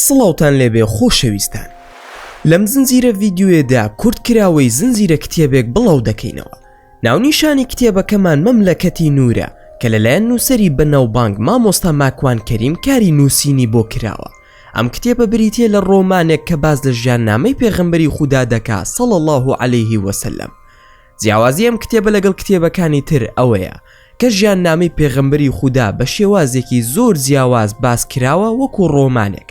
سڵاوتان لێبێ خۆشەویستان لەم زنجیرە ڤیددیوێدا کورتکراوەی زنجیرە کتێبێک بڵاو دەکەینەوە ناونیشانی کتێبەکەمان مەملەکەتی نورە کە لەلایەن نووسری بەناوبانگ مامۆستا ماکوان کەریم کاری نووسینی بۆ کراوە ئەم کتێبە بریتیە لە ڕۆمانێک کە باس لە ژیان نامەی پێغەمبەری خودا دەکا صلی اللە علیه وسلم جیاوازی ئەم کتێبە لەگەڵ کتێبەکانی تر ئەوەیە کە ژیان نامەی پێغەمبەری خودا بە شێوازێکی زۆر جیاواز باس کراوە وەکو ڕۆمانێک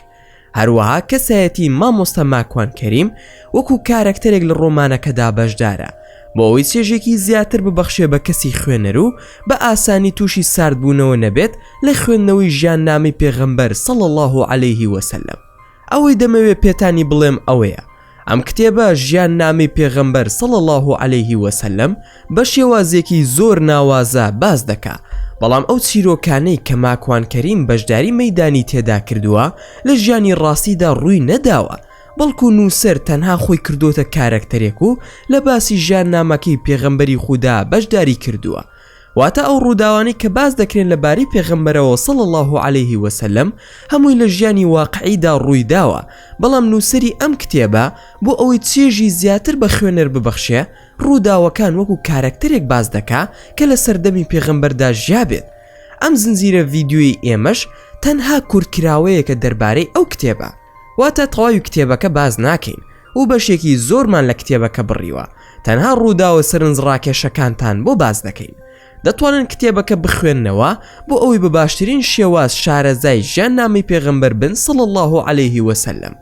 هەروەها کەسایەتی مامۆستا ماکوان کەریم وەکو کارەکتەرێک لە ڕۆمانەکەدا بەشدارە بۆ ئەوەی چێژێکی زیاتر ببەخشێ بە کەسی خوێنەر و بە ئاسانی تووشی ساردبوونەوە نەبێت لە خوێندنەوەی ژیان نامی پێغەمبەر صلی اللە علیه وسلم ئەوەی دەمەوێ پێتانی بڵێم ئەوەیە ئەم کتێبە ژیان نامی پێغەمبەر صلی اللە علیه وسلم بە شێوازێکی زۆر ناوازە باز دەکا بەڵام ئەو چیرۆکانەی کە ماکوان کەریم بەشداری مەدانی تێدا کردووە لە ژیانی ڕاستیدا ڕووی نەداوە بەڵکو نووسەر تەنها خۆی کردۆتە کارەکتەرێک و لە باسی ژیان نامەکەی پێغەمبەری خودا بەشداری کردووە واتە ئەو ڕووداوانی کە باس دەکرێن لە باری پێغەمبەرەوە سەڵ الله و عليهەیهی وسلم هەمووی لە ژیانی واقعیدا ڕوویداوە بەڵام نووسری ئەم کتێبە بۆ ئەوەی چێژی زیاتر بە خوێنەر ببەخشێ ڕووداوەکان وەکو کارەکتەرێک باس دەکا کە لە سەردەمی پێغەمبەردا ژیابێت ئەم زنجیرە ڤیدیۆی ئێمەش تەنها کورتکراوەیەکە دەربارەی ئەو کتێبە واتە تەواوی کتێبەکە باس ناکەین و بەشێکی زۆرمان لە کتێبەکە بڕیوە تەنها ڕووداوە سەرنج ڕاکێشەکانتان بۆ باس دەکەین دەتوانن کتێبەکە بخوێندنەوە بۆ ئەوەی بە باشترین شێواز شارەزای ژیان نامی پێغمبەر بن سڵ الله و عليهەیهی وسلم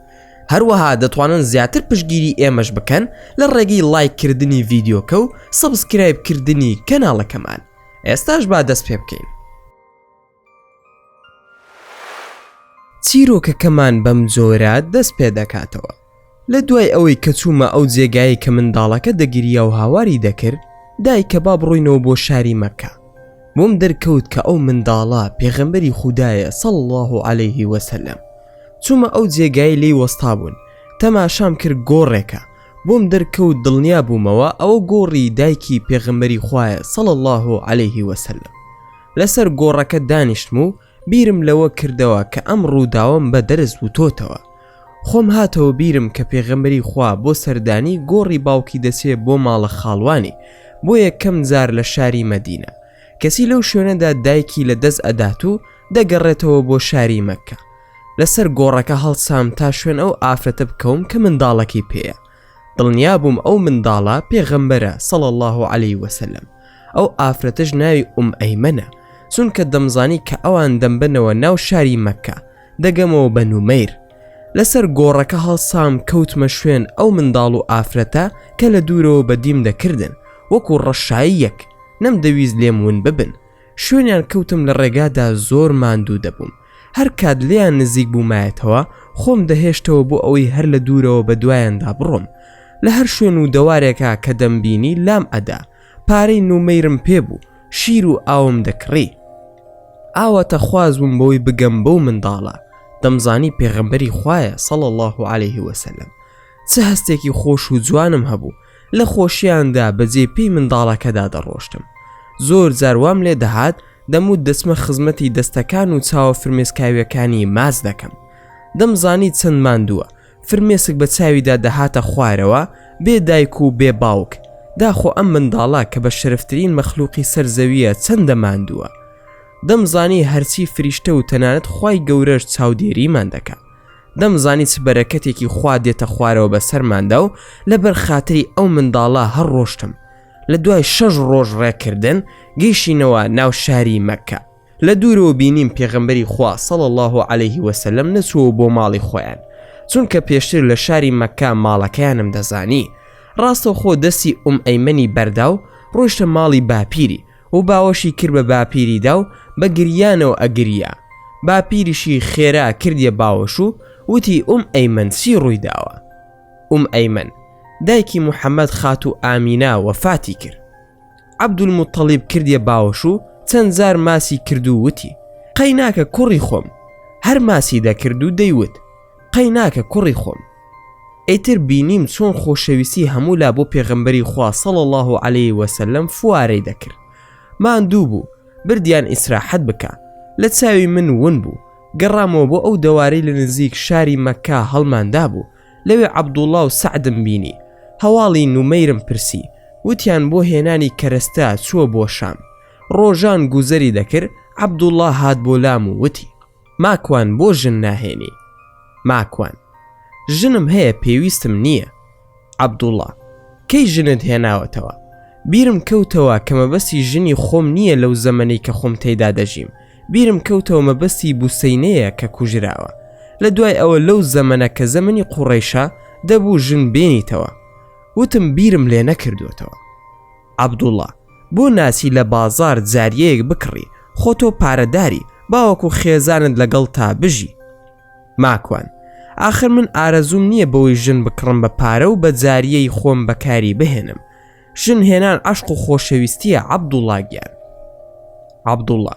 هەروەها دەتوانن زیاتر پشگیری ئێمەش بکەن لە ڕێگەی لایککردنی ڤیددیوکە و سەبسکرایبکردنی کەناڵەکەمان ئێستاش با دەست پێ بکەین چیرۆکەکەمان بەم جۆرە دەست پێ دەکاتەوە لە دوای ئەوەی کە چوومە ئەو جێگایی کە منداڵەکە دەگیریا و هاواری دەکرد دایکە با بڕۆینەوە بۆ شاری مەکە بۆم دەرکەوت کە ئەو منداڵە پێغەمبەری خوددایە سەڵ الله و عليهەیه وسلم چوومە ئەو جێگای لی وەستا بوون تەماشام کرد گۆڕێکە بووم دەرکەوت دڵنیا بوومەوە ئەوە گۆڕی دایکی پێغەمبەری خوایە صلی اللە علیە و سلم لەسەر گۆڕەکە دانیشتم و بیرم لەوە کردەوە کە ئەم ڕووداوەم بە دەرس وتۆتەوە خۆم هاتەوە بیرم کە پێغەمبەری خوا بۆ سەردانی گۆڕی باوکی دەچێ بۆ ماڵە خاڵوانی بۆ یەکەم جار لە شاری مەدینە کەچی لەو شوێنەدا دایکی لە دەست ئەدات و دەگەڕێتەوە بۆ شاری مەککە لەسەر گۆڕەکە هەڵسام تا شوێن ئەو ئافرەتە بکەوم کە منداڵەکەی پێەیە دڵنیا بووم ئەو منداڵە پێغەمبەرە سەڵ الله عليه وسلم ئەو ئافرەتش ناوی ئوم ئەیمەە چونکە دەمزانی کە ئەوان دەمبنەوە ناو شاری مەکە دەگەمەوە بە نومەیر لەسەر گۆڕەکە هەڵسام کەوتمە شوێن ئەو منداڵ و ئافرەتە کە لە دوورەوە بەدیم دەکردن وەکو ڕەشایی یەک نەم دەویست لێم ون ببن شوێنیان کەوتم لە ڕێگادا زۆر ماندوو دەبووم هەر کات لێیان نزیک بوومایەتەوە خۆم دەهێشتەوە بۆ ئەوەی هەر لە دوورەوە بە دوایاندا بڕۆم لە هەر شوێن و دەوارێکا کە دەمبینی لام ئەدا پارەی نومەیرم پێ بوو شیر و ئاوم دەکڕی ئاواتە خواز بووم بەوەی بگەم بەو منداڵە دەمزانی پێغەمبەری خوایە سەڵ الله عليه وسلم چ هەستێکی خۆش و جوانم هەبوو لە خۆشیاندا بە جێ پێی منداڵەکەدا دەڕۆشتم. زۆر جار وام لێ دەهات دەموت دەچمە خزمەتی دەستەکان و چاوە فرمێسکاویەکانی ماچ دەکەم. دەمزانی چەند ماندووە. فرمێسک بە چاویدا دەهاتە خوارەوە، بێ دایک و بێ باوک. داخۆ ئەم منداڵە کە بە شەرفترین مەخلوقی سەر زەوییە چەندە ماندووە. دەمزانی هەرچی فریشتە و تەنانەت خوای گەورەش چاودێریمان دەکا. دەمزانی چ بەرەکەتێکی خوا دێتە خوارەوە بە سەرماندا و لەبەر خاتری ئەو منداڵە هەر ڕۆشتم لە دوای شەش ڕۆژ ڕێکردن گەیشینەوە ناو شاری مەکە لە دوورەوە بینیم پێغمبەری خوا سەڵ الله عليه وسلم نەچووە بۆ ماڵی خۆیان چونکە پێشتر لە شاری مەکە ماڵەکەیانم دەزانی ڕاستەخۆ دەستی ئوم ئەیمەنی بەردا و ڕۆشتە ماڵی باپیری و باوەشی کرد بە باپیریدا و بە گریانەوە ئەگریا، باپیریشی خێرا کردیە باوەش و وتی ئوم ئەیمەن چی ڕووی داوە؟ ئوم ئەیمەن، دایکی محەمەد خاتوو ئامینە وەفاتی کرد. عەبدولموتەڵیب کردیە باوەش و چەند جار ماچی کرد و وتی، قەیناکە کوڕی خۆم، هەر ماچی دەکرد و دەیوت، قەیناکە کوڕی خۆم ئیتر بینیم چۆن خۆشەویستی هەموو لا بۆ پێغەمبەری خوا صلی اللە علیه وسلم فوارەی دەکرد ماندوو بوو بردیان ئیسراحەت بکا لە چاوی من ون بوو گەڕامەوە بۆ ئەو دەوارەی لە نزیک شاری مەککە هەڵماندا بوو لەوێ عەبدوڵڵا و سەعدم بینی هەواڵی نومەیرم پرسی وتیان بۆ هێنانی کەرەستە چووە بۆ شام ڕۆژان گوزەری دەکرد عەبدوڵڵا هات بۆ لام و وتی ماکوان بۆ ژن ناهێنی. ماکوان. ژنم هەیە پێویستم نییە. عەبدوڵا. کەی ژنت هێناوەتەوە؟ بیرم کەوتەوە کە مەبەستی ژنی خۆم نییە لەو زەمەنەی کە خۆم تێیدا دەژیم بیرم کەوتەوە مەبەستی بوسەینەیە کە کوژراوە لە دوای ئەوە لەو زەمەنە کە زەمەنی قوڕەیشە دەبوو ژن بێنیتەوە وتم بیرم لێ نەکردووەتەوە. عەبدوڵا، بۆ ناچی لە بازاڕ جاریەیەک بکڕی، خۆ تۆ پارەداری، باوەکو خێزانت لەگەڵتە بژی. ماکوان، ئاخر من ئارەزووم نیە بۆی ژن بکڕم بە پارە و بە جاریەی خۆم بەکاری بهێنم. ژن هێنان عەشق و خۆشەویستیە عەبدوڵا گیان. عەبدوڵا،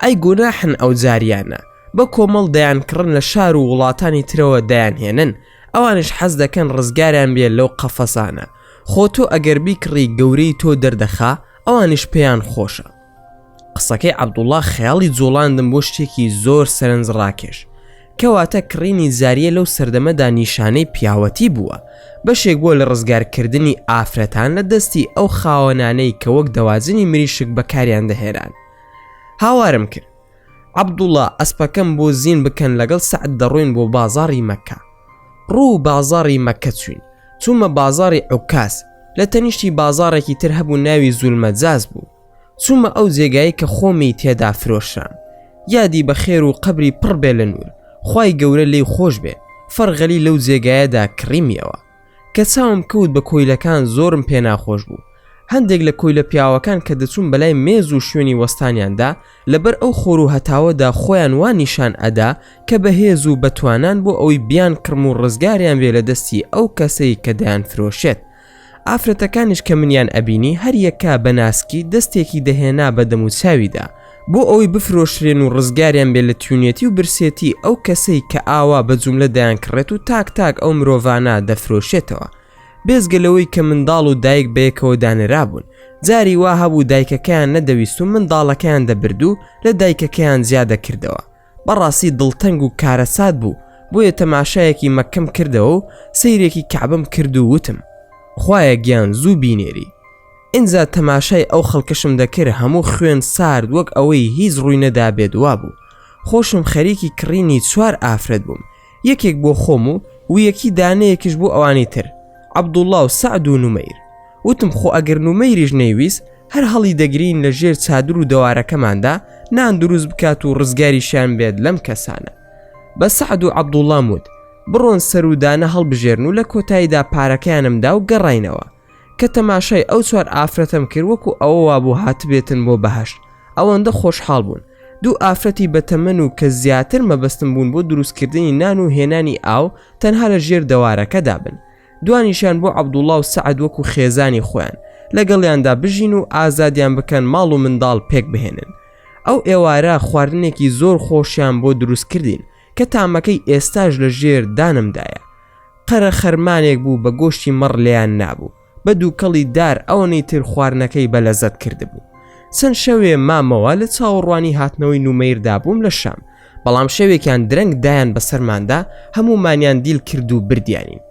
ئەی گوناحن ئەو جاریانە، بە کۆمەڵ دەیانکڕن لە شار و وڵاتانی ترەوە دەیانهێنن، ئەوانیش حەز دەکەن ڕزگاریان بێ لەو قەفەسانە، خۆ تۆ ئەگەر بیکڕی گەورەی تۆ دەردەخا ئەوانیش پێیان خۆشە. قسەکەی عەبدوڵا خەیاڵی جوڵاندم بۆ شتێکی زۆر سەرنج ڕاکێش. کەواتە کڕینی زاریە لەو سەردەمەدا نیشانەی پیاوەتی بووە، بەشێک بووە لە ڕزگار کردنی ئافرەتان لە دەستی ئەو خاوەنانەی کە وەک دەواجنی مریشک بەکاریان دەهێنان. هاوارم کرد. عەبدوڵا ئەسپەکەم بۆ زین بکەن لەگەڵ سەعد دەڕۆین بۆ بازاڕی مەککە. ڕوو بازاڕی مەککە چووین. چوومە بازاڕی عوکاز. لە تەنیشتی بازاڕێکی تر هەبوو ناوی زولمەجاز بوو. چوومە ئەو جێگایەی کە خۆمی تێدا فرۆشرام. یادی بەخێر و قەبری پڕ بێ لە نوور. خوای گەورە لێی خۆش بێ. فەرغەلی لەو جێگایەدا کڕیمیەوە. کە چاوم کەوت بە کۆیلەکان زۆرم پێ ناخۆش بوو هەندێک لە کۆیلە پیاوەکان کە دەچوون بەلای مێز و شوێنی وەستانیاندا لەبەر ئەو خۆر و هەتاوەدا خۆیان وا نیشان ئەدا کە بەهێز و بەتوانان بۆ ئەوەی بیان کڕم و ڕزگاریان بێ لە دەستی ئەو کەسەی کە دەیان فرۆشێت ئافرەتەکانیش کە منیان ئەبینی هەریەکە بە ناسکی دەستێکی دەهێنا بە دەموچاویدا بۆ ئەوەی بفرۆشرێن و ڕزگاریان بێ لە تیونەتی و برسێتی ئەو کەسەی کە ئاوا بە جوملە دەیان کڕێت و تاک تاک ئەو مرۆڤانە دەفرۆشێتەوە بێزگە لەوەی کە منداڵ و دایک بەیەکەوە دانرابوون جاری وا هەبوو دایکەکەیان نەدەویست و منداڵەکەیان دەبرد و لە دایکەکەیان زیادەکردەوە بەڕاستی دڵتەنگ و کارەسات بوو بۆیە تەماشایەکی مەکەم کردەوە و سەیرێکی کەعبم کرد و وتم خوایە گیان زوو بینێری ئینجا تەماشای ئەو خەڵکەشم دەکرد هەموو خوێن سارد وەک ئەوەی هیچ ڕووی نەدابێت وابوو خۆشم خەریکی کڕینی چوار ئافرەت بووم یەکێک بۆ خۆم و ویەکی دانەیەکیش بۆ ئەوانی تر عەبدوڵڵا و سەعد و نومەیر وتم خۆ ئەگەر نومەیریش نەیویست هەر هەڵی دەگرین لە ژێر چادر و دەوارەکەماندا نان دروست بکات و ڕزگاریشیان بێت لەم کەسانە بە سەعد و عەبدوڵام وت بڕۆن سەرودانە هەڵبژێرن و لە کۆتاییدا پارەکەیانمدا و گەڕینەوە کە تەماشای ئەو چوار ئافرەتەم کرد وەکو ئەوە وابوو هاتبێتن بۆ بەهشت ئەوەندە خۆشحاڵ بوون دوو ئافرەتی بەتەمەن و کە زیاتر مەبەستم بوون بۆ دروستکردنی نان و هێنانی ئاو تەنها لە ژێر دەوارەکەدا بن دوانیشان بۆ عەبدوڵڵا و سەعد وەکو خێزانی خۆیان لەگەڵیاندا بژین و ئازادیان بکەن ماڵ و منداڵ پێک بهێنن ئەو ئێوارە خواردنێکی زۆر خۆشیان بۆ دروست کردین کە تامەکەی ئێستاش لە ژێر دانمدایە. قەرە خەرمانێک بوو بە گۆشتی مەڕ لێیان نابوو، بە دووکەڵی دار ئەوەنەی تر خواردنەکەی بە لەزەت کردبوو. چەند شەوێ مامەوە لە چاوەڕوانی هاتنەوەی نومەیردا بووم لە شام، بەڵام شەوێکیان درەنگ دایان بە سەرماندا، هەموومانیان دیل کرد و بردیانین.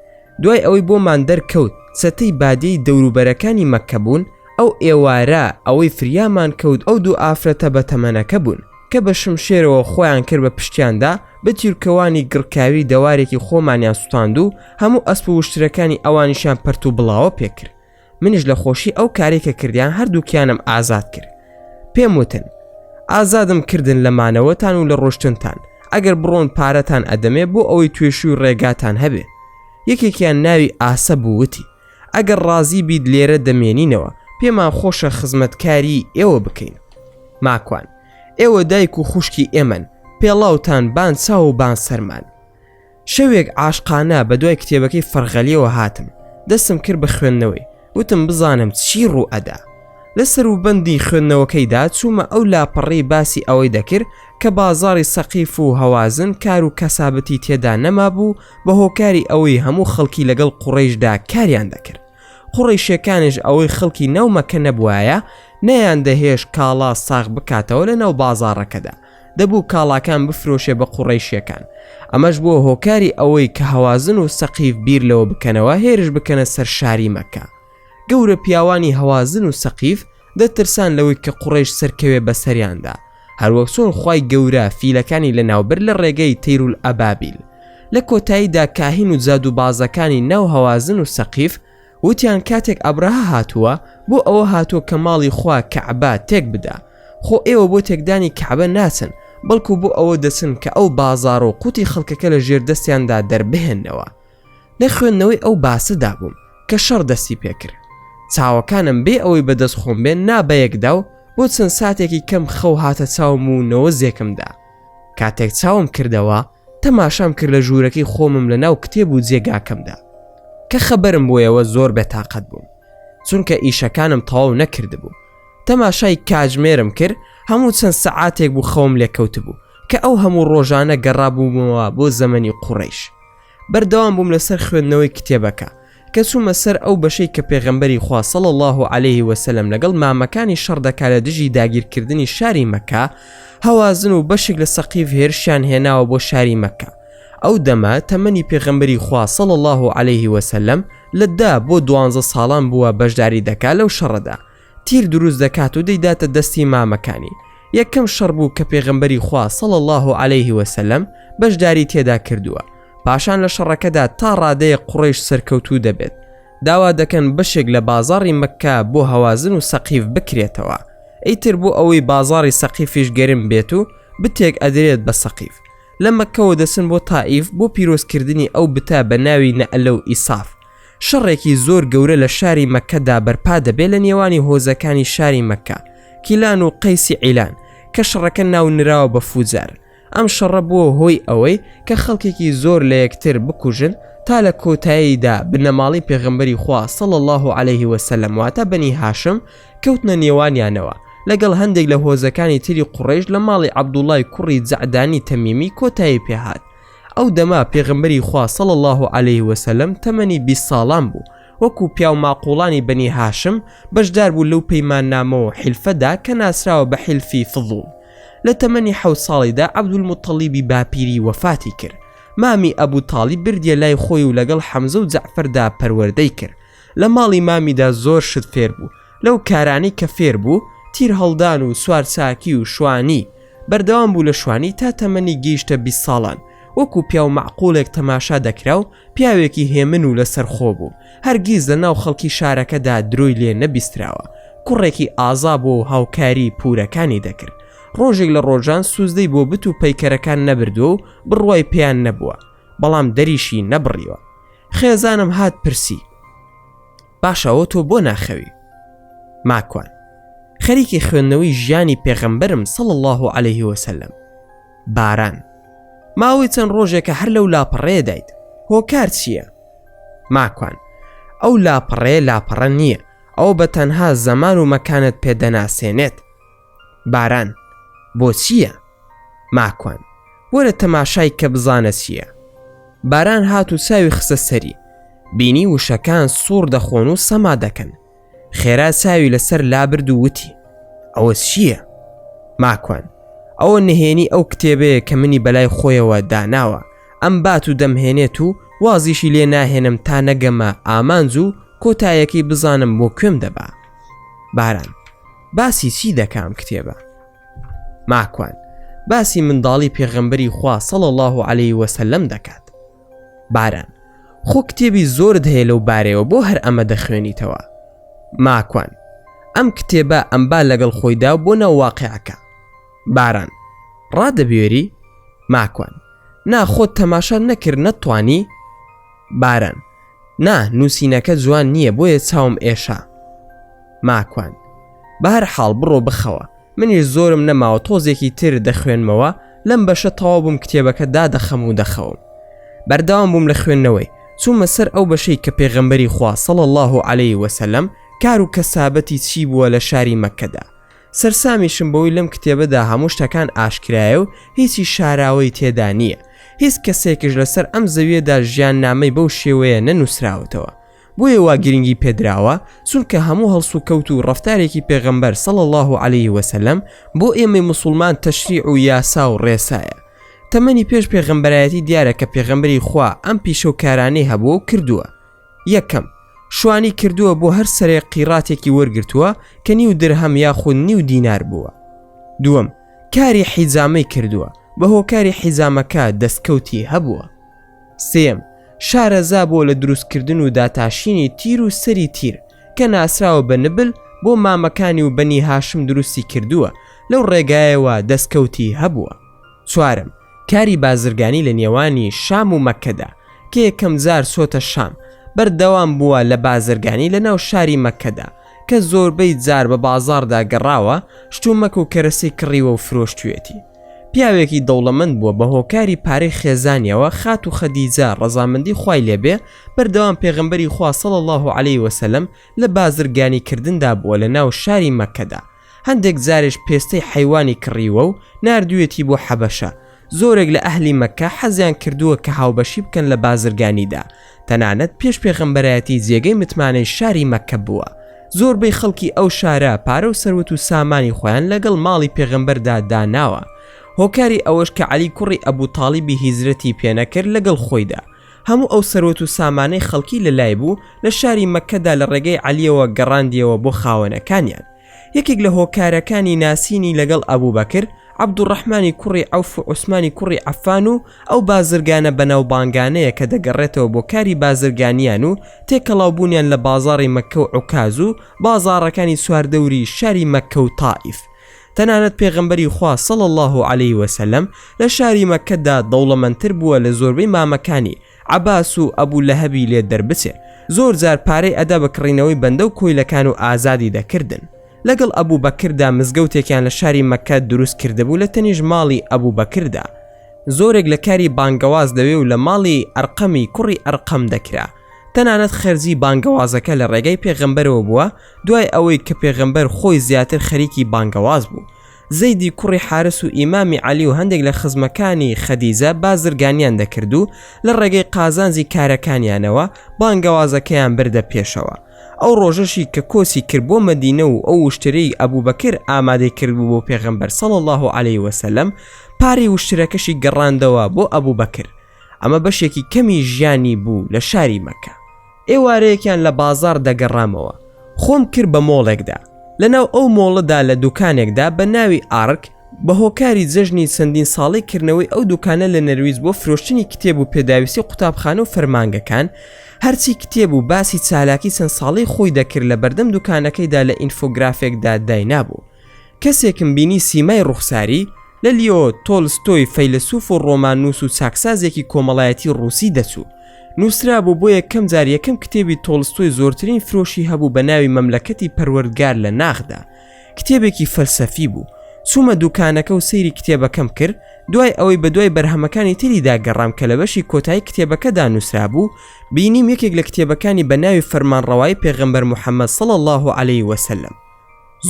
دوای ئەوەی بۆمان دەرکەوت چەتەی بادێی دەوروبەرەکانی مەککە بوون، ئەو ئێوارە ئەوەی فریامان کەوت ئەو دوو ئافرەتە بەتەمەنەکە بوون، کە بە شمشێرەوە خۆیان کرد بە پشتیاندا، بە تیورکەوانی گڕکاوی دەوارێکی خۆمانیان سوتاند و هەموو ئەسپ و وشترەکانی ئەوانیشیان پەرت و بڵاوە پێکرد. منیش لە خۆشی ئەو کارەی کە کردیان هەردووکیانم ئازاد کرد. پێم وتن، ئازادم کردن لە مانەوەتان و لە ڕۆشتنتان، ئەگەر بڕۆن پارەتان ئەدەمێ بۆ ئەوەی توێشووی ڕێگاتان هەبێ. یەکێکیان ناوی ئاسە بوو وتی، ئەگەر ڕازی بیت لێرە دەمێنینەوە، پێمان خۆشە خزمەتکاریی ئێوە بکەین. ماکوان، ئێوە دایک و خوشکی ئێمەن، پێڵاوتان بان چاو و بان سەرمان. شەوێک عاشقانە بە دوای کتێبەکەی فەرغەلییەوە هاتم، دەستم کرد بە خوێندنەوەی، وتم بزانم چی ڕوو ئەدا. لە سەروبەندی خوێندنەوەکەیدا چوومە ئەو لاپەڕەی باسی ئەوەی دەکرد کە بازاڕی سەقیف و هەوازن کار و کەسابەتی تێدا نەمابوو، بە هۆکاری ئەوەی هەموو خەڵکی لەگەڵ قوڕیشدا کاریان دەکرد قوڕیشەکانش ئەوەی خەڵکی ناو مەکە نەبوایە نەیان دەهێش کاڵا ساغ بکاتەوە لە ناو بازاڕەکەدا دەبوو کاڵاکان بفرۆشێ بە قوڕیشیەکان ئەمەش بووە هۆکاری ئەوەی کە هەوازن و سەقیف بیر لەوە بکەنەوە هێرش بکەنە سەر شاری مەکە گەورە پیاوانی هەوازن و سەقیف دەترسان لەوەی کە قوڕەیش سەرکەوێ بەسەریاندا هەروەک چۆن خوای گەورە فیلەکانی لەناوبرد لە ڕێگەی تەیرول ئەبابیل لە کۆتاییدا کاهین و جادووبازەکانی ناو هەوازن و سەقیف وتیان کاتێک ئەبرەهە هاتووە بۆ ئەوە هاتووە کە ماڵی خوا کەعبە تێکبدا خۆ ئێوە بۆ تێکدانی کەعبە ناچن بەڵکو بۆ ئەوە دەچن کە ئەو بازاڕ و قوتی خەڵکەکە لە ژێر دەستیاندا دەربهێنەوە لە خوێندنەوەی ئەو باسە دابووم کە شەڕ دەستی پێکرد چاوەکانم بێ ئەوەی بەدەست خۆم بێن نا بەیەکدا و بۆ چەند ساتێکی کەم خەو هاتە چاوم و نەوە زێکمدا کاتێک چاوم کردەوە تەماشام کرد لە ژوورەکەی خۆمم لە ناو کتێب و جێگاکەمدا کە خەبەرم بۆیەوە زۆر بێتاقەت بووم چونکە ئیشەکانم تەواو نەکردبوو تەماشای کاژمێرم کرد هەموو چەند سەعاتێک بوو خەوم لێکەوت بوو کە ئەو هەموو ڕۆژانە گەڕابوومەوە بۆ زەمەنی قوڕیش بەردەوام بووم لەسەر خوێندنەوەی کتێبەکە کە چوومە سەر ئەو بەشەی کە پێغەمبەری خوا صلی اللە علیه و سلم لەگەڵ مامەکانی شەڕ دەکا لە دژی داگیرکردنی شاری مەککە هەوازن و بەشێک لە سەقیف هێرشیان هێناوە بۆ شاری مەککە ئەو دەمە تەمەنی پێغەمبەری خوا صلی اللە علیه و سلم لە دە بۆ دوانزە ساڵان بووە بەشداری دەکا لەو شەڕەدا تیر دروست دەکات و دەیداتە دەستی مامەکانی یەکەم شەڕ بوو کە پێغمبەری خوا صل الله عليه وسلم بەشداری تێدا کردووە پاشان لە شەڕەکەدا تا ڕادەیە قڕیش سەرکەوتوو دەبێت داوا دەکەن بەشێک لە بازاری مەکە بۆ هەوازن و سەقیف بکرێتەوە ئیتر بۆ ئەوەی بازاری سەقیفیش گەرم بێت و بتێک ئەدرێت بە سەقیف لە مەکەوە دەسن بۆ تائیف بۆ پیرۆزکردنی ئەو بتە بە ناوی نەئەلە و ئیساف شەڕێکی زۆر گەورە لە شاری مەککەدا بەرپا دەبێت لە نێوانی هۆزەکانی شاری مەککە کیلان و قەیسی عیلان کە شەڕەکە ناو نراوە بە فوجار ئەم شەڕە بووە هۆی ئەوەی کە خەڵکێکی زۆر لە یەکتر بکوژن تا لە کۆتاییدا بنەماڵی پێغمبەری خوا صلی الله عليه وسلم واتە بەنی هاشم کەوتنە نێوانیانەوە لەگەڵ هەندێک لە هۆزەکانی تری قوڕیش لە ماڵی عەبدوڵای کوڕی جەعدانی تەمیمی کۆتایی پێهات ئەو دەمە پێغەمبەری خوا صلی اللە علیە و سلم تەمەنی بیست ساڵان بوو، وەکو پیاو ماقوڵانی بەنی هاشم بەشدار بوو لەو پەیماننامە و حیلفەدا کە ناسراوە بە حیلفی فضول. لە تەمەنی حەوت ساڵیدا عەبدولموتەڵیبی باپیری وەفاتی کرد، مامی ئەبو تاڵیب بردیە لای خۆی و لەگەڵ حەمزە و جەعفەردا پەروەردەی کرد، لە ماڵی مامیدا زۆر شت فێر بوو، لەو کارانەی کە فێر بوو، تیر هەڵدان و سوارچاکی و شوانی، بەردەوام بوو لە شوانی تا تەمەنی گەیشتە بیست ساڵان، وەکو پیاو مەعقولێک تەماشا دەکرا و پیاوێکی هێمن و لەسەرخۆ بوو، هەرگیز لە ناو خەڵکی شارەکەدا درۆی لێ نەبیستراوە، کوڕێکی ئازا بووە و هاوکاریی پوورەکانی دەکرد، ڕۆژێک لە ڕۆژان سوزدەی بۆ بت و پەیکەرەکان نەبردووە و بڕوای پێیان نەبووە، بەڵام دەریشی نەبڕیوە. خێزانم هات پرسی. باشەوە تۆ بۆ ناخەوی ماکوان خەریکی خوێندنەوەی ژیانی پێغەمبەرم سەڵ الله و عليه وسلم باران ماوەی چەند ڕۆژێکە هەر لەو لاپەڕێ دایت هۆکار چییە؟ ماکوان ئەو لاپەڕێ لاپەڕە نییە ئەو بە تەنها زەمان و مەکانت پێدەناسێنێت باران، بۆچییە؟ ماکوان، وەرە تەماشای کە بزانە چییە. باران هات و چاوی خستە سەری. بینی وشەکان سووڕ دەخۆن و سەما دەکەن. خێرا چاوی لەسەر لابرد و وتی، ئەوە چییە؟ ماکوان، ئەوە نهێنی ئەو کتێبەیە کە منی بەلای خۆیەوە داناوە، ئەمبات و دەمهێنێت و وازیشی لێ ناهێنم تا نەگەمە ئامانج و کۆتایەکەی بزانم بۆ کوێم دەبا. باران، باسی چی دەکام کتێبە؟ ماکوان باسی منداڵی پێغەمبەری خوا سەڵ الله عليه وسلم دەکات باران خۆ کتێبی زۆرت هەیە لەو بارەوە بۆ هەر ئەمە دەخوێنیتەوە ماکوان ئەم کتێبە ئەمبا لەگەڵ خۆیدا بۆ ناواقعەکە باران ڕادەبێری ماکوان ناخۆت تەماشا نەکرد نەتوانی باران نا نووسینەکە جوان نییە بۆیە چاوم ئێشا ماکوان بەهر حاڵ بڕۆ بخەوە منیش زۆرم نەماوە تۆزێکی تر دەخوێنمەوە لەم بەشە تەوا بووم کتێبەکە دادەخەم و دەخەوم بەرداوام بووم لە خوێندنەوەی چوومە سەر ئەو بەشەی کە پێغەمبەری خوا سەڵ الله عليه وسلم کار و کەسابەتی چی بووە لە شاری مەکەدا سەرسامیشم بەوەی لەم کتێبەدا هەموو شتەکان ئاشکرایە و هیچی شاراوەی تێدا نییە هیچ کەسێکش لەسەر ئەم زەویەدا ژیان نامەی بەو شێوەیە نەنووسراوەتەوە بۆیە وا گرنگی پێدراوە چونکە هەموو هەڵس و کەوت و ڕفتارێکی پێغەمبەر سەڵ الله و عليه وسلم بۆ ئێمەی مسلمان تەشریع و یاسا و ڕێسایە تەمەنی پێش پێغەمبەرایەتی دیارە کە پێغەمبەری خوا ئەم پیشە و کارانەی هەبوو و کردووە یەکەم، شوانی کردووە بۆ هەر سەرێک قیڕاتێکی وەرگرتووە کە نیو درهەم یاخود نیو دینار بووە. دووەم، کاری حیجامەی کردووە، بە هۆکاری حیجامەکە دەستکەوتی هەبووە. سێیەم، شارەزا بووە لە دروستکردن و داتاشینی تیر و سەری تیر، کە ناسراوە بە نبل، بۆ مامەکانی و بەنی هاشم دروستی کردووە، لەو ڕێگایەوە دەستکەوتی هەبووە. چوارەم، کاری بازرگانی لە نێوانی شام و مەککەدا، کە یەکەم جار چۆتە شام، بەردەوام بووە لە بازرگانی لە ناو شاری مەککەدا، کە زۆربەی جار بە بازاڕدا گەڕاوە، شتومەک و کەرەسی کڕیوە و فرۆشتویەتی. پیاوێکی دەوڵەمەند بووە بە هۆکاری پارەی خێزانیەوە، خاتوو خەدیجە، ڕەزامەندی خوای لێ بێ، بەردەوام پێغەمبەری خوا، صلی اللە علیه وسلم، لە بازرگانی کردندا بووە لە ناو شاری مەککەدا، هەندێک جاریش پێستەی حەیوانی کڕیوە و ناردوویەتی بۆ حەبەشە، زۆرێک لە ئەهلی مەککە حەزیان کردووە کە هاوبەشی بکەن لە بازرگانیدا، تەنانەت پێش پێغەمبەرایەتی جێگەی متمانەی شاری مەککە بووە، زۆربەی خەڵکی ئەو شارە پارە و سەروەت و سامانی خۆیان لەگەڵ ماڵی پێغەمبەردا داناوە، هۆکاری ئەوەش کە عەلی کوڕی ئەبو تاڵیبی هیجرەتی پێنەکرد لەگەڵ خۆیدا، هەموو ئەو سەروەت و سامانەی خەڵکی لە لای بوو لە شاری مەککەدا لە ڕێگەی عەلیەوە گەڕاندیەوە بۆ خاوەنەکانیان. یەکێک لە هۆکارەکانی ناسینی لەگەڵ ئەبوبەکر، عەبدوڕەحمانی کوڕی عەوف و عوسمانی کوڕی عەفان و ئەو بازرگانە بەناوبانگانەیە کە دەگەڕێتەوە بۆ کاری بازرگانیان و تێکەڵاو بوونیان لە بازاڕی مەککە و عوکاز و بازاڕەکانی چواردەوری شاری مەککە و تائیف تەنانەت پێغەمبەری خوا صلی اللە علیە وسلم لە شاری مەککەدا دەوڵەمەندتر بووە لە زۆربەی مامەکانی، عەباس و ئەبو لەهەبی لێ دەربچێ، زۆر جار پارەی ئەدا بە کڕینەوەی بەندە و کۆیلەکان و ئازادی دەکردن. لەگەڵ ئەبو بەکردا مزگەوتێکیان لە شاری مەککە دروست کردبوو لە تەنیشت ماڵی ئەبو بەکردا. زۆرێک لە کاری بانگەواز لەوێ و لە ماڵی ئەرقەمی کوڕی ئەرقەم دەکرا. تەنانەت خەرجی بانگەوازەکە لە ڕێگەی پێغەمبەرەوە بووە دوای ئەوەی کە پێغەمبەر خۆی زیاتر خەریکی بانگەواز بوو زەیدی کوڕی حارس و ئیمامی علی و هەندێک لە خزمەکانی خەدیجە بازرگانیان دەکرد و لە ڕێگەی قازانجی کارەکانیانەوە بانگەوازەکەیان بردە پێشەوە ئەو ڕۆژەشی کە کۆچی کرد بۆ مەدینە و ئەو وشترەی ئەبوو بەکر ئامادەی کردبوو بۆ پێغەمبەر سەڵ الله عليه وسلم پارەی وشترەکەشی گەڕاندەوە بۆ ئەبوو بەکر ئەمە بەشێکی کەمی ژیانی بوو لە شاری مەکە ئێوارەیەکیان لە بازار دەگەڕامەوە خۆم کرد بە مۆڵێکدا لەناو ئەو مۆڵەدا لە دوکانێکدا بە ناوی ئارک بە هۆکاری جەژنی چەندین ساڵی کردنەوەی ئەو دوکانە لە نەرویج بۆ فرۆشتنی کتێب و پێداویستی قوتابخانە و فەرمانگەکان هەرچی کتێب و باسی چالاکی چەند ساڵی خۆی دەکرد لە بەردەم دوکانەکەیدا لە ئینفۆگرافێکدا داینابوو کەسێکم بینی سیمای ڕوخساری لە لیۆ تۆلستۆی فەیلەسوف و ڕۆماننووس و چاکسازێکی کۆمەڵایەتی ڕووسی دەچوو. نووسرابوو بۆ یەکەم جار یەکەم کتێبی تۆلستۆی زۆرترین فرۆشی هەبوو بە ناوی مەملەکەتی پەروەردگار لە ناخدا. کتێبێکی فەلسەفی بوو. چوومە دووکانەکە و سەیری کتێبەکەم کرد، دوای ئەوەی بەدوای بەرهەمەکانی تریدا گەڕام کە لە بەشی کۆتایی کتێبەکەدا نووسرابوو، بینیم یەکێک لە کتێبەکانی بە ناوی فەرمانڕەوایی پێغەمبەر محەممەد صلی اللە علیه و سلم.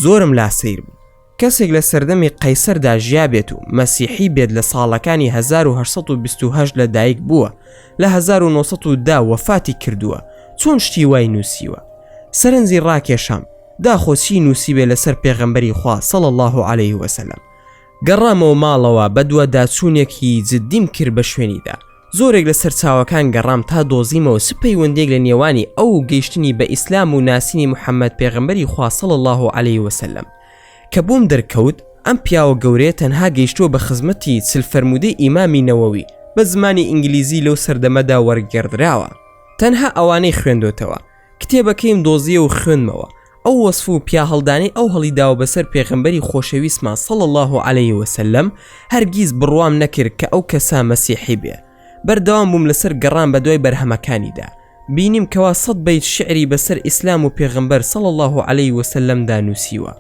زۆرم لا سەیر بوو. کەسێک لە سەردەمی قەیسەردا ژیابێت و مەسیحی بێت لە ساڵەکانی 1920 لە دایک بووە لە 1910 وەفاتی کردووە چۆن شتی وای نووسیوە سەرنجی ڕاکێشام داخۆچی نووسیبێ لەسەر پێغەمبەری خوا سەڵ الله عليه وسلم گەڕامەوە ماڵەوە بە دوواداچوونێکی جددیم کرد بە شوێنیدا زۆرێک لە سەرچاوەکان گەڕام تا دۆزیمەوە چ پەیوەندیەک لە نێوانی ئەو و گەیشتنی بە ئیسلام و ناسینی محمد پێغەمبەری خوا صلی اللە علیە وسلم کە بۆم دەرکەوت ئەم پیاوە گەورەیە تەنها گەیشتووە بە خزمەتی چل فەرموودەی ئیمامی نەوەوی بە زمانی ئینگلیزی لەو سەردەمەدا وەرگێڕدراوە تەنها ئەوانەی خوێندۆتەوە کتێبەکەیم دۆزیە و خوێندمەوە ئەو وەسف و پیاهەڵدانەی ئەو هەڵی داوە بەسەر پێغەمبەری خۆشەویستمان صلی اللە علیە وسلم هەرگیز بڕوام نەکرد کە ئەو کەسە مەسیحی بێ بەردەوام بووم لەسەر گەڕان بەدوای بەرهەمەکانیدا بینیم کەوا سەد بەیت شعری بەسەر ئیسلام و پێغەمبەر صلی اللە علیە وسلمدا نووسیوە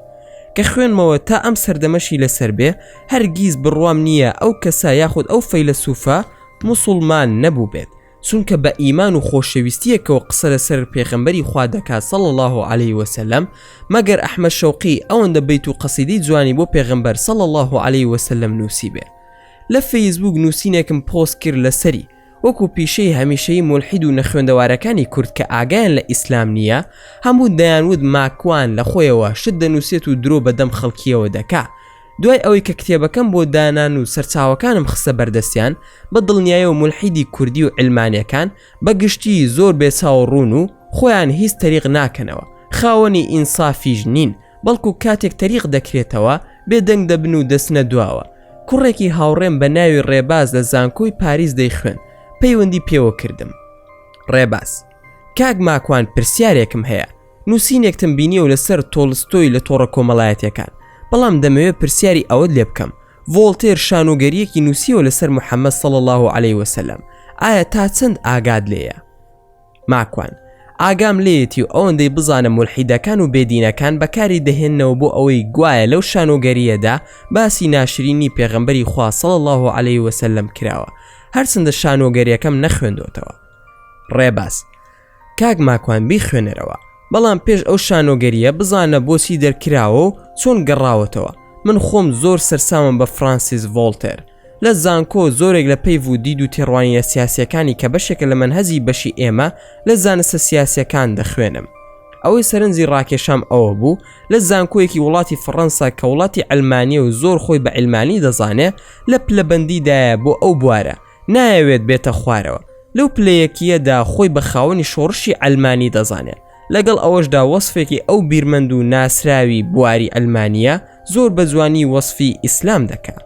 کە خوێنمەوە تا ئەم سەردەمەشی لەسەر بێ هەرگیز بڕوام نییە ئەو کەسە یاخود ئەو فەیلەسوفە موسڵمان نەبووبێت چونکە بە ئیمان و خۆشەویستیەکەوە قسە لەسەر پێخەمبەری خوا دەکات سەڵ الله و عليه وسلم مەگەر ئەحمە شەوقی ئەوەندە بیت و قەسیدی جوانی بۆ پێغمبەر سەڵ الله و عليه وسلم نووسی بێ لە فەیسبوک نووسینێکم پۆست کرد لەسەری وەکو پیشەی هەمیشەی ملحید و نەخوێندەوارەکانی کورد کە ئاگایان لە ئیسلام نییە هەموو دەیانوت ماکوان لە خۆیەوە شت دەنووسێت و درۆ بەدەم خەڵکیەوە دەکا دوای ئەوەی کە کتێبەکەم بۆ دانان و سەرچاوەکانم خستە بەردەستیان بە دڵنیایە و مولحیدی کوردی و علمانیەکان بە گشتی زۆر بێ چاو ڕوون و خۆیان هیچ تەریق ناکەنەوە خاوەنی ئینسافیش نین بەڵکو کاتێک تەریق دەکرێتەوە بێدەنگ دەبن و دەچنە دواوە کوڕێکی هاوڕێم بە ناوی ڕێباز لە زانکۆی پاریس دەیخوێن پەیوەندی پێوە کردم ڕێباز کاک ماکوان پرسیارێکم هەیە نووسینێکتم بینیەوە لەسەر تۆڵستۆی لە تۆڕە کۆمەڵایەتیەکان بەڵام دەمەوێت پرسیاری ئەوەت لێ بکەم ڤۆڵتێر شانۆگەریەکی نووسیەوە لەسەر محەممەد سەڵ الله و عليه وسلم ئایا تا چەند ئاگاد لێیە ماکوان ئاگام لێتی و ئەوەندەی بزانم ملحیدەکان و بێدینەکان بەکاری دەهێنەوە بۆ ئەوەی گوایە لەو شانۆگەریەدا باسی ناشرینی پێغەمبەری خواصل الله و عليه وسلم کراوە هەرچندە شانۆگەریەکەم نەخوێندۆتەوە ڕێباز کاک ماکوان بیخوێنەرەوە بەڵام پێش ئەو شانۆگەریە بزانە بۆچی دەرکراوە و چۆن گەڕاوەتەوە من خۆم زۆر سەرسامم بە فرانسیس ڤۆڵتێر لە زانکۆ زۆرێک لە پەیڤ و دید و تێڕوانینە سیاسیەکانی کە بەشێکە لە مەنهەجی بەشی ئێمە لە زانستە سیاسیەکان دەخوێنم ئەوەی سەرنجی ڕاکێشام ئەوە بوو لە زانکۆیەکی وڵاتی فڕەنسا کە وڵاتی عەلمانیە و زۆر خۆی بە عیلمانی دەزانێ لە پلەبەندیدایە بۆ ئەو بوارە نایەوێت بێتە خوارەوە، لەو پلەیەکییەدا خۆی بە خاوەنی شۆڕشی عەلمانی دەزانێت، لەگەڵ ئەوەشدا وەسفێکی ئەو بیرمەند و ناسراوی بواری عەلمانییە زۆر بە جوانی وەسفی ئیسلام دەکا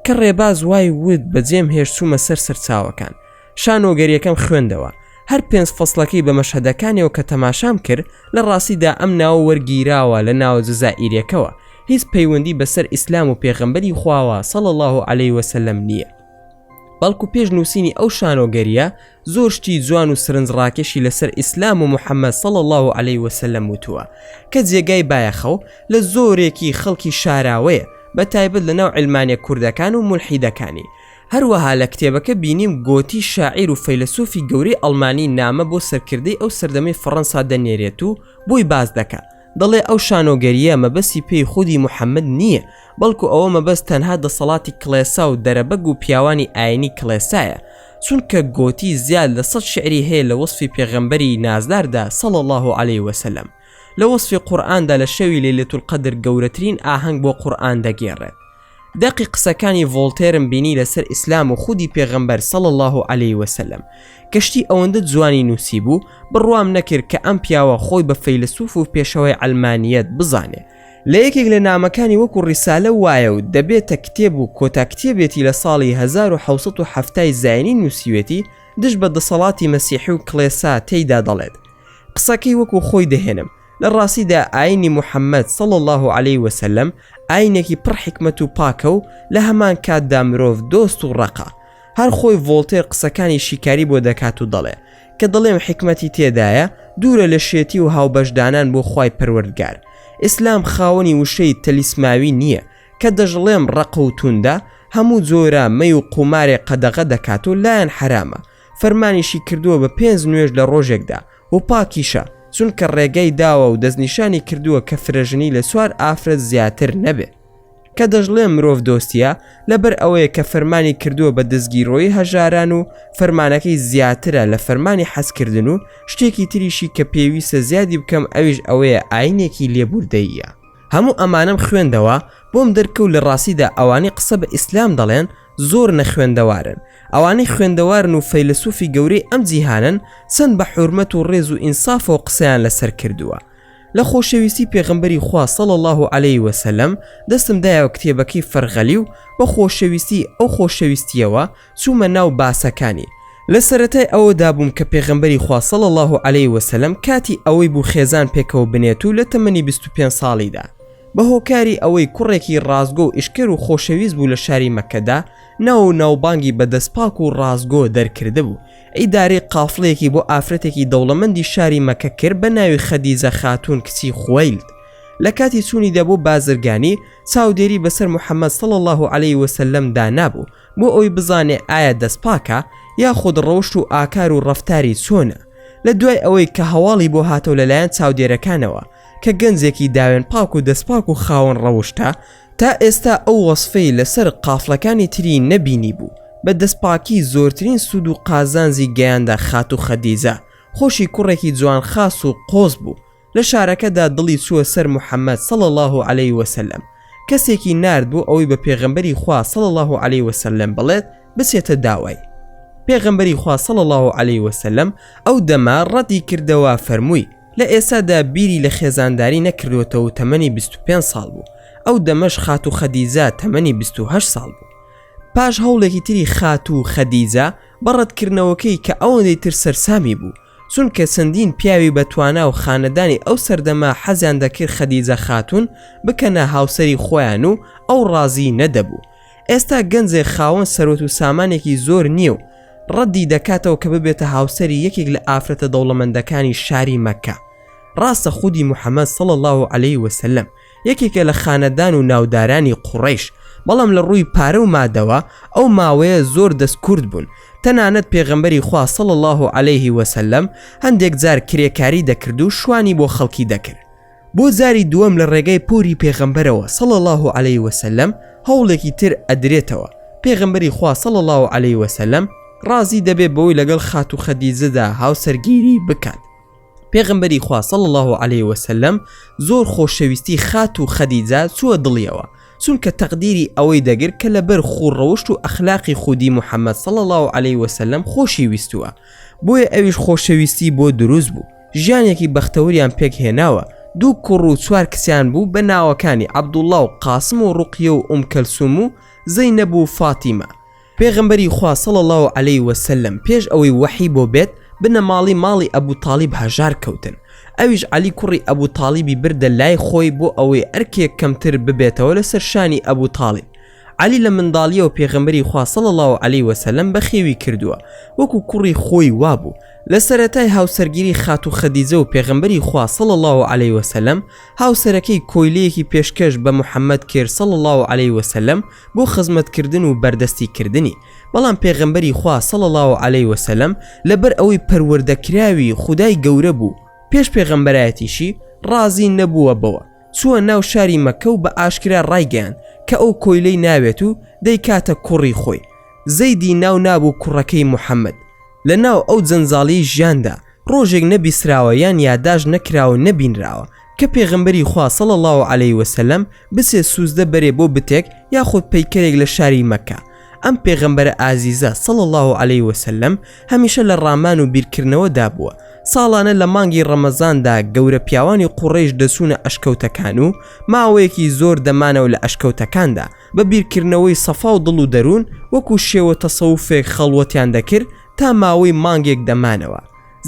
کە ڕێباز وای وت بەجێم هێشت چوومە سەر سەرچاوەکان شانۆگەریەکەم خوێندەوە هەر پێنج فەسڵەکەی بە مەشهەدەکانیەوە کە تەماشام کرد لە ڕاستیدا ئەم ناوە وەرگیراوە لە ناوە جەزائیرەکەوە هیچ پەیوەندی بەسەر ئیسلام و پێغەمبەری خواوە صلی اللە علیە وسلم نییە. بەڵکو پێش نووسینی ئەو شانۆگەریە زۆر شتی جوان و سرنج ڕاکێشی لەسەر ئیسلام و محەممەد سەڵ الله و عليه وسلم وتووە کە جێگای بایەخە و لە زۆرێکی خەڵکی شاراوەیە بە تایبەت لە ناو علمانە کوردەکان و مولحیدەکانی هەروەها لە کتێبەکە بینیم گۆتی شاعیر و فەیلسوفی گەورەی ئەڵمانی نامە بۆ سەرکردەی ئەو سەردەمی فەڕەنسا دەنێرێت و بۆی باس دەکە دەڵێ ئەو شانۆگەرییە مەبەستی پێی خودی محەممەد نییە، بەڵکو ئەوە مەبەست تەنها دەسەڵاتی کڵێسا و دەرەبەگ و پیاوانی ئاینی کڵێسایە، چونکە گۆتی زیاد لە سەد شیعری هەیە لە وەسفی پێغەمبەری نازداردا صلی اللە علیە وسلم لە وەسفی قورئاندا لە شەوی لیلەتولقەدر گەورەترین ئاهەنگ بۆ قورئان دەگێڕێت دەقی قسەکانی ڤۆڵتێرم بینی لەسەر ئیسلام و خودی پێغەمبەر صلی اللە علیە وسلم کە شتی ئەوەندە جوانی نووسیبوو بڕوام نەکرد کە ئەم پیاوە خۆی بە فەیلەسوف و پێشەوای عەلمانیەت بزانێ لە یەکێک لە نامەکانی وەکو ڕیسالە وایە و دەبێتە کتێب و کۆتا کتێبێتی لە ساڵی هەزار و حەوت سەد و حەفتا ی زاینی نووسیوێتی دژ بە دەسەڵاتی مەسیحی و کڵێسا تێیدا دەڵێت قسەکەی وەکو خۆی دەهێنم لە ڕاستیدا ئاینی محەممەد سەڵ الله عليه وسلم ئاینێکی پڕ حکمت و پاکە و لە هەمان کاتدا مرۆڤ دۆست و ڕقا هەر خۆی ڤۆلتێر قسەکانی شیکاری بۆ دەکات و دەڵێ کە دەڵێم حکمەتی تێدایە دوورە لە شێتی و هاوبەشدانان بۆ خی پەروەردگار ئیسلام خاوەنی وشەی تەلیسماوی نییە کە دەژڵێم ڕقوتوندا هەموو جۆرە مەی و قومارێ قەدەغە دەکات و لایەن حرامە فەرمانیشی کردووە بە پێنج نوێژ لە ڕۆژێکدا و پاکیشە چونکە ڕێگەی داوە و دەستنیشانی کردووە کە فرەژنی لە چوار ئافرەت زیاتر نەبێ کە دەشڵێ مرۆڤ دۆستیە لەبەر ئەوەیە کە فەرمانی کردووە بە دەستگیرۆی هەژاران و فەرمانەکەی زیاترە لە فەرمانی حەزکردن و شتێکی تریشی کە پێویستە زیادی بکەم ئەویش ئەوەیە ئاینێکی لێبوردەییە هەموو ئەمانەم خوێندەوە بۆم دەرکەوت لە ڕاستیدا ئەوانەی قسە بە ئیسلام دەڵێن زۆر نەخوێندەوارن ئەوانەی خوێندەوارن و فەیلسوفی گەورەی ئەم جیهانن چەند بە حورمەت و ڕێز و ئینسافەوە قسەیان لەسەر کردووە لە خۆشەویستی پێغمبەری خوا صلى الله عليه وسلم دەستم دایەوە کتێبەکەی فەرغەلی و بە خۆشەویستی ئەو خۆشەویستیەوە چوومە ناو باسەکانی لە سەرەتای ئەوە دابووم کە پێغمبەری خوا صلى الله عليه وسلم کاتی ئەوەی بوو خێزان پێکەوە بنێت و لە تەمەنی 25 ساڵیدا بە هۆکاری ئەوەی کوڕێکی ڕاستگۆ و ئیشکەر و خۆشەویست بوو لە شاری مەککەدا ناو و ناوبانگی بە دەست پاک و ڕاستگۆ دەرکردبوو، ئیدارەی قافڵەیەکی بۆ ئافرەتێکی دەوڵەمەندی شاری مەککە کرد بە ناوی خەدیجە خاتوون کچی خوەیلد، لە کاتی چوونیدا بۆ بازرگانی چاودێری بەسەر محەمەد صلی اللە علیە وسلم دا نابوو بۆ ئەوەی بزانێ ئایا دەست پاکە یاخود ڕەوشت و ئاکار و ڕەفتاری چۆنە، لە دوای ئەوەی کە هەواڵی بۆ هاتەوە لەلایەن چاودێرەکانەوە، کە گەنجێکی داوێن پاک و دەستپاک و خاوەن ڕەوشتە، تا ئێستا ئەو وەسفەی لەسەر قافڵەکانی تری نەبینیبوو، بە دەستپاکی زۆرترین سوود و قازانجی گەیاندە خاتوو خەدیجە، خۆشی کوڕێکی جوانخاس و قۆز بوو، لە شارەکەدا دڵی چووە سەر محەمەد صلی اللە علیە وسلم، کەسێکی نارد بۆ ئەوەی بە پێغەمبەری خوا صلی اللە علیە وسلم بڵێت بچێتە داوای، پێغەمبەری خوا صلی اللە علیە وسلم ئەو دەمە ڕەتی کردەوە فەرمووی، لە ئێستادا بیری لە خێزانداری نەکردووەتەوە و تەمەنی بیست و پێنج ساڵ بوو، ئەو دەمەش خاتوو خەدیجە تەمەنی بیست و هەشت ساڵ بوو. پاش هەوڵێکی تری خاتوو خەدیجە بە ڕەتکردنەوەکەی کە ئەوەندەی تر سەرسامی بوو، چونکە چەندین پیاوی بە توانا و خانەدانی ئەو سەردەمە حەزیان دەکرد خەدیجە خاتوون بکەنە هاوسەری خۆیان و ئەو ڕازی نەدەبوو، ئێستا گەنجێ خاوەن سەرۆت و سامانێکی زۆر نییە و ڕەدی دەکاتەوە کە ببێتە هاوسەری یەکێک لە ئافرەتە دەوڵەمەندەکانی شاری مەکە ڕاستە خودی محەممەد سەڵ الله و عليه وسلم یەکێکە لە خانەدان و ناودارانی قوڕیش بەڵام لە ڕووی پارە و مادەوە ئەو ماوەیە زۆر دەست کورد بوون تەنانەت پێغەمبەری خوا سەڵ الله و عليه وسلم هەندێک جار کرێکاری دەکرد و شوانی بۆ خەڵکی دەکرد بۆ جاری دووەم لە ڕێگای پۆری پێغەمبەرەوە صلی اللە علیە وسلم هەوڵێکی تر ئەدرێتەوە، پێغەمبەری خوا صلی اللە علیە وسلم ڕازی دەبێت بەوەی لەگەڵ خاتوو خەدیجەدا هاوسەرگیری بکات، پێغەمبەری خوا صلی اللە علیە وسلم زۆر خۆشەویستی خاتوو خەدیجە چووە دڵیەوە، چونکە تەقدیری ئەوەی دەگرت کە لەبەر خوو ڕەوشت و ئەخلاقی خودی محمد صلی اللە علیە وسلم خۆشی ویستووە، بۆیە ئەویش خۆشەویستی بۆ دروست بوو. ژیانێکی بەختەوریان پێک هێناوە، دوو کوڕ و چوار کچیان بوو بە ناوەکانی عەبدوڵڵا و قاسم و ڕوقیە و ئوم کەلسوم و زەینەب و فاتیمە. پێغەمبەری خوا صلی اللە علیە و سلم پێش ئەوەی وەحی بۆ بێت بنەماڵەی ماڵی ئەبو تاڵیب هەژار کەوتن، ئەویش عەلی کوڕی ئەبو تاڵیبی بردە لای خۆی بۆ ئەوەی ئەرکێک کەمتر ببێتەوە لەسەر شانی ئەبو تاڵیب، عەلی لە منداڵیەوە پێغەمبەری خوا صلی اللە علیە وسلم بەخێوی کردووە وەکو کوڕی خۆی وابوو لە سەرەتای هاوسەرگیری خاتو خەدیجە و پێغەمبەری خوا صلی اللە علیە وسلم هاوسەرەکەی کۆیلەیەکی پێشکەش بە محمد کرد صلی اللە علیە وسلم بۆ خزمەتکردن و بەردەستی کردنی بەڵام پێغەمبەری خوا صلی اللە علیە وسلم لەبەر ئەوەی پەروەردەکراوی خودای گەورە بوو پێش پێغەمبەرایەتیشی ڕازی نەبووە بەوە چووە ناو شاری مەککە و بە ئاشکرا ڕایگەیاند کە ئەو کۆیلەی ناوێت و دەیکاتە کوڕی خۆی، زەیدی ناو نابوو کوڕەکەی محەمەد. لە ناو ئەو جەنجاڵیی ژیاندا ڕۆژێک نەبیسراوە یان یاداشت نەکراوە و نەبینراوە کە پێغەمبەری خوا صلی اللە علیە وسلم بچێ سوجدە بەرێ بۆ بتێک یاخود پەیکەرێک لە شاری مەککە، ئەم پێغەمبەرە ئازیزە صلی اللە علیه وسلم هەمیشە لە ڕامان و بیرکردنەوە دابووە ساڵانە لە مانگی ڕەمەزاندا گەورە پیاوانی قوڕیش دەچوونە ئەشکەوتەکان و ماوەیەکی زۆر دەمانەوە لە ئەشکەوتەکاندا بە بیرکردنەوەی سەفا و دڵ و دەروون وەکو شێوە تەسەوفێک خەڵوەتیان دەکرد تا ماوەی مانگێک دەمانەوە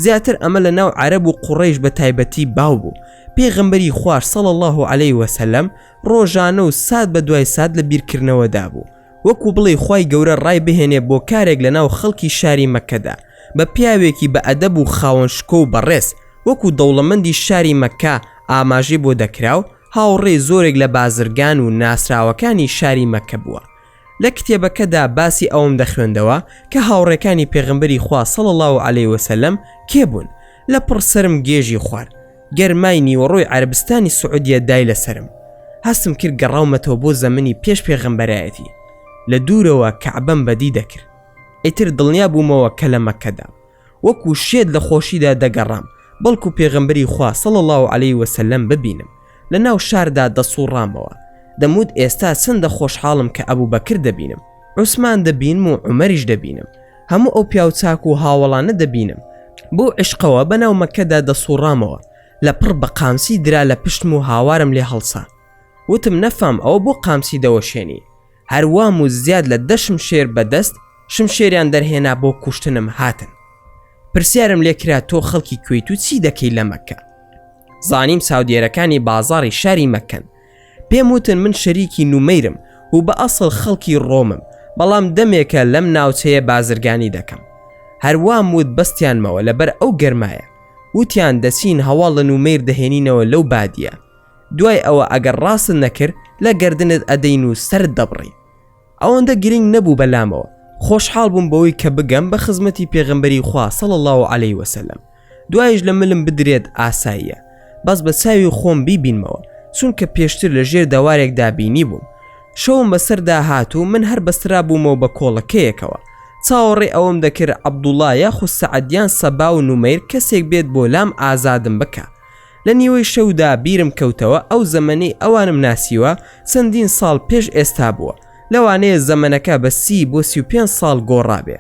زیاتر ئەمە لە ناو عەرەب و قوڕیش بە تایبەتی باو بوو پێغەمبەری خوار صلی اللە علیه وسلم ڕۆژانە و سات بە دوای سات لە بیرکردنەوەدا بوو وەکو بڵێی خوای گەورە ڕای بهێنێ بۆ کارێک لەناو خەڵکی شاری مەککەدا بە پیاوێکی بە ئەدەب و خاوەن شکۆ و بەڕێز وەکو دەوڵەمەندی شاری مەککە ئاماژەی بۆ دەکرا و هاوڕێی زۆرێک لە بازرگان و ناسراوەکانی شاری مەککە بووە لە کتێبەکەدا باسی ئەوەم دەخوێندەوە کە هاوڕێکانی پێغەمبەری خوا صلی اللە علیە وسلم کێ بوون لەپڕ سەرم گێژی خوارد گەرمای نیوەڕۆی عەرەبستانی سعودیە دای لەسەرم، هەستم کرد گەڕاومەتەوە بۆ زەمنی پێش پێغەمبەرایەتی، لە دوورەوە کەعبەم بەدی دەکرد، ئیتر دڵنیا بوومەوە کە لە مەککەدام، وەکو شێت لە خۆشیدا دەگەڕام، بەڵکو پێغەمبەری خوا صلی اللە علیە وسلم ببینم، لە ناو شاردا دەسوڕامەوە، دەموت ئێستا چەندە خۆشحاڵم کە ئەبوبەکر دەبینم، عوسمان دەبینم و عومەریش دەبینم، هەموو ئەو پیاو چاک و هاوەڵانە دەبینم بەو عشقەوە بەناو مەکەدا دەسوڕامەوە لە پڕ بە قامسی درا لە پشتم و هاوارم لێ هەڵسا وتم نەفام ئەوە بۆ قامسی دەوەشێنی هەروام و زیاد لە دەشم شێر بەدەست شم شێریان دەرهێنا بۆ کوشتنم هاتن پرسیارم لێ کرا تۆ خەڵکی کوێیت و چی دەکەی لە مەکە زانیم ساودێرەکانی بازاری شاری مەکەن پێم وتن من شەریکی نومەیرم و بە ئەسڵ خەڵکی ڕۆمم، بەڵام دەمێکە لەم ناوچەیە بازرگانی دەکەم. هەر وام وت بەستیانمەوە لەبەر ئەو گەرمایە. وتیان دەچین هەواڵ لە نومەیر دەهێنینەوە لەو بادییە. دوای ئەوە ئەگەر ڕاستت نەکرد لە گەردنت ئەدەین و سەرت دەبڕین. ئەوەندە گرنگ نەبوو بەلامەوە، خۆشحاڵ بووم بەوەی کە بگەم بە خزمەتی پێغەمبەری خوا صلی اللە علیە وسلم دوایش لە ملم بدرێت ئاساییە بەس بە چاوی خۆم بیبینمەوە چونکە پێشتر لە ژێر دەوارێکدا بینیبووم شەوم بەسەردا هات و من هەر بەسترابوومەوە بە کۆڵەکەیەکەوە چاوەڕێ ئەوەم دەکرد عەبدوڵڵا یاخود سەعد یان سەبا و نومەیر کەسێک بێت بۆ لام ئازادم بکا لە نیوەی شەودا بیرم کەوتەوە ئەو زەمەنەی ئەوانم ناسیوە چەندین ساڵ پێش ئێستا بووە لەوانەیە زەمەنەکە بە سی بۆ سی و پێنج ساڵ گۆڕابێ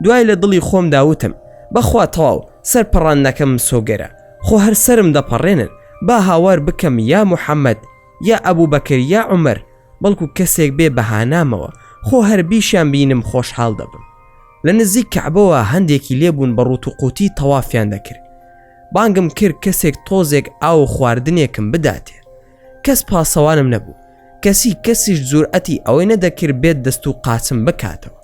دوای لە دڵی خۆمدا وتم بەخوا تەواو سەر پەڕاندنەکەم مسۆگەرە خۆ هەر سەرم دەپەڕێنن با هاوار بکەم یا محەممەد یا ئەبوو بەکر یا عومەر بەڵکو کەسێک بێ بەهانامەوە خۆ هەر بیشیان بینم خۆشحاڵ دەبم لە نزیک کەعبەوە هەندێکی لێبوون بە ڕووت و قووتی تەوافیان دەکرد بانگم کرد کەسێک تۆزێک ئاو و خواردنێکم بداتێ کەس پاسەوانم نەبوو کەسی کەسیش جورئەتی ئەوەی نەدەکرد بێت دەست و قاچم بکاتەوە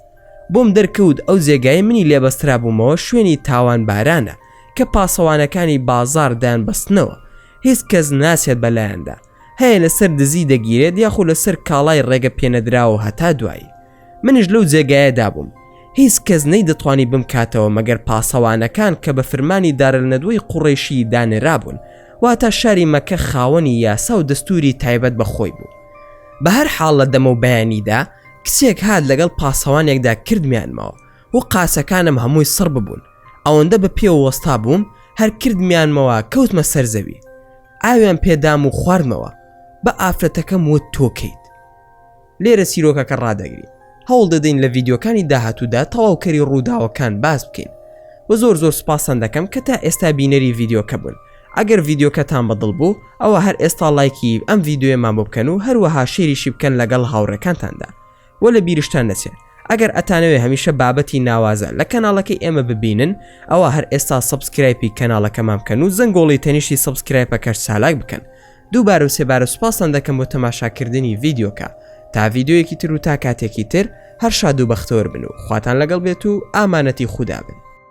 بۆم دەرکەوت ئەو جێگای منی لێبەسترا بوومەوە شوێنی تاوان بارانە کە پاسەوانەکانی بازار دەیان بەستنەوە هیچ کەس ناچێت بەلایەندا هەیە لەسەر دزی دەگیرێت یاخو لەسەر کاڵای ڕێگە پێنەدراوە هەتا دوایی منش لەو جێگایە دابووم هیچ کەس نەی دەتوانی بم کاتەوە مەگەر پاسەوانەکان کە بە فرمانی دارل نەدوەی قوڕێشی دانرابوون واتە شاری مەکە خاوەنی یاسا و دەستوری تایبەت بە خۆی بوو بە هەر حاڵ لە دەمە و بەیانیدا کچێک هاات لەگەڵ پاسەوانێکدا کردمیانمەوە و قاسەکانم هەمووی سڕ ببوون ئەوەندە بە پێوە وەستا بووم هەر کردمیانمەوە کەوتمە سەرزەوی ئاویان پێدام و خواردمەوە بە ئافرەتەکەم وت تۆ کەیت لێرە سیرۆکەکە ڕدەگرین هەوڵ دەدەین لە ڤیددیوکانی داهاتوودا تەواوکەری ڕووداوەکان باس بکەین و زۆر زۆر سپاسان دەکەم کە تا ئێستا بینەری ڤیددیوکە بوون ئەگەر ڤیددیوکەتان بەدڵ بوو ئەوە هەر ئێستا لایکی ئەم ڤیددیوێمان بۆ بکەن و هەروەها شێریشی بکەن لەگەڵ هاوڕێکانتاندا وە لە بیرشتان نەچێت ئەگەر ئەتانەوێ هەمیشە بابەتی ناوازە لە کەناڵەکەی ئێمە ببینن ئەوە هەر ئێستا سەبسکرایپی کەناڵەکەمان بکەن و زەنگۆڵی تەنیشتی سەبسکرایپەکەش چالاک بکەن دووبارە و سێبارە سوپاستان دەکەم بۆ تەماشاکردنی ڤیددیوکە تا ڤیددیویەکی تر و تا کاتێکی تر هەر شاد و بەختەوەر بن و خواتان لەگەڵ بێت و ئامانەتی خودا بن